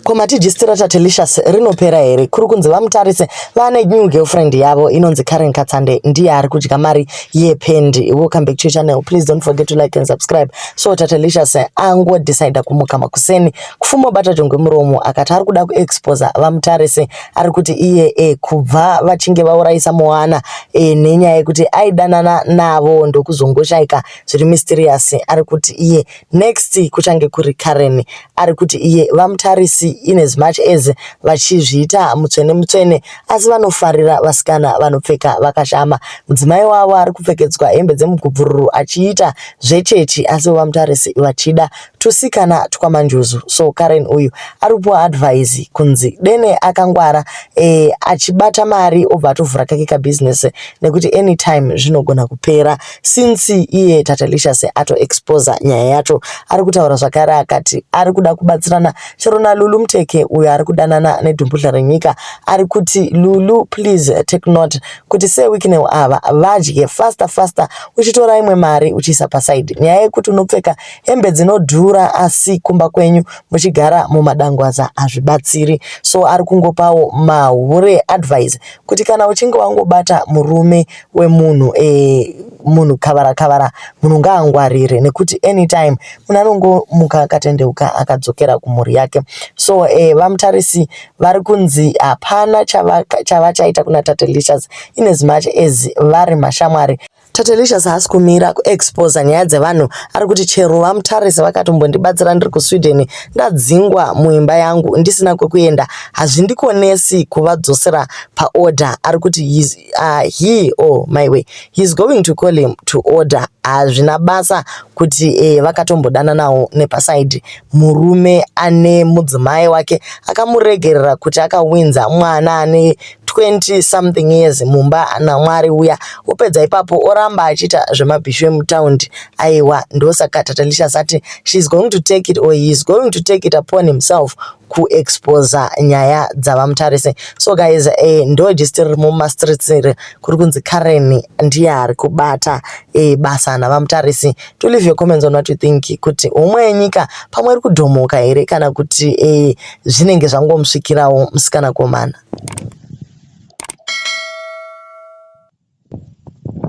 Ko matijistira taTelicious rinopera here? Kuri kunzi vamutarise vane new girlfriend yavo inonzi Karen Katsande ndiye ari kudya mari yependi. Welcome back to your channel. Please don't forget to like and subscribe. So taTelicious ango decide kumuka makuseni kufumo bata jongwe muromo akati ari kuda kuexpose vamutarise ari kuti iye e kubva vachinge vaurayisa Moana e nenyaya yekuti aidanana navo ndokuzongoshaika zviri mysterious ari kuti iye Next kuchange kuri Karen ari kuti iye vamutarisi in as much as vachizviita mutsvene mutsvene asi vanofarira vasikana vanopfeka vakashama. Mudzimai wavo ari kupfekedzwa hembe dzemugubvururu achiita zvechechi asi vamutarisi vachida tusikana twamanjuzu. So Karen uyu ari kupiwa advice kunzi dene akangwara eh, achibata mari obva atovhura kake kabusiness nekuti anytime zvinogona kupera. Since iye Tatelicious ato exposer nyaya yacho ari kutaura zvakare akati ari kuda kubatsirana chero naLulu Mteke uyo ari kudanana neDumbudhla renyika ari kuti Lulu please take note kuti seWicknell ava vadye faster faster uchitora imwe mari uchiisa paside nyaya yekuti unopfeka hembe dzinodhura asi kumba kwenyu muchigara mumadangwaza hazvibatsiri so ari kungopawo mahure advice kuti kana uchinge wangobata murume wemunhu eh, munhu kavara kavara munhu ngaangwarire nekuti anytime munhu anongomuka akatendeuka akadzokera kumhuri yake so eh, vamutarisi vari kunzi hapana chavachaita kuna tatelicious in as much as vari mashamwari Tatelicious haasi kumira kuexposa nyaya dzevanhu ari kuti chero vamutarisi vakatombondibatsira ndiri kusweden ndadzingwa muimba yangu ndisina kwekuenda hazvindikonesi kuvadzosera paorder ari kuti uh, he or my way he's going to call him to order hazvina basa kuti eh, vakatombodananawo nepasaidi murume ane mudzimai wake akamuregerera kuti akawinza mwana ane 20 something years mumba namwari uya opedza ipapo oramba achiita zvemabhishu emutaundi aiwa ndosaka tatalisha sati she's going to take it or he is going to take it upon himself kuexposa nyaya dzavamutarise so guys eh, ndo just riri mumastreets iri kuri kunzi karen ndiye ari kubata eh, basa navamutarise to leave your comments on what you think kuti homwe yenyika pamwe iri kudhomoka here kana kuti eh, zvinenge zvangomusvikirawo musikana komana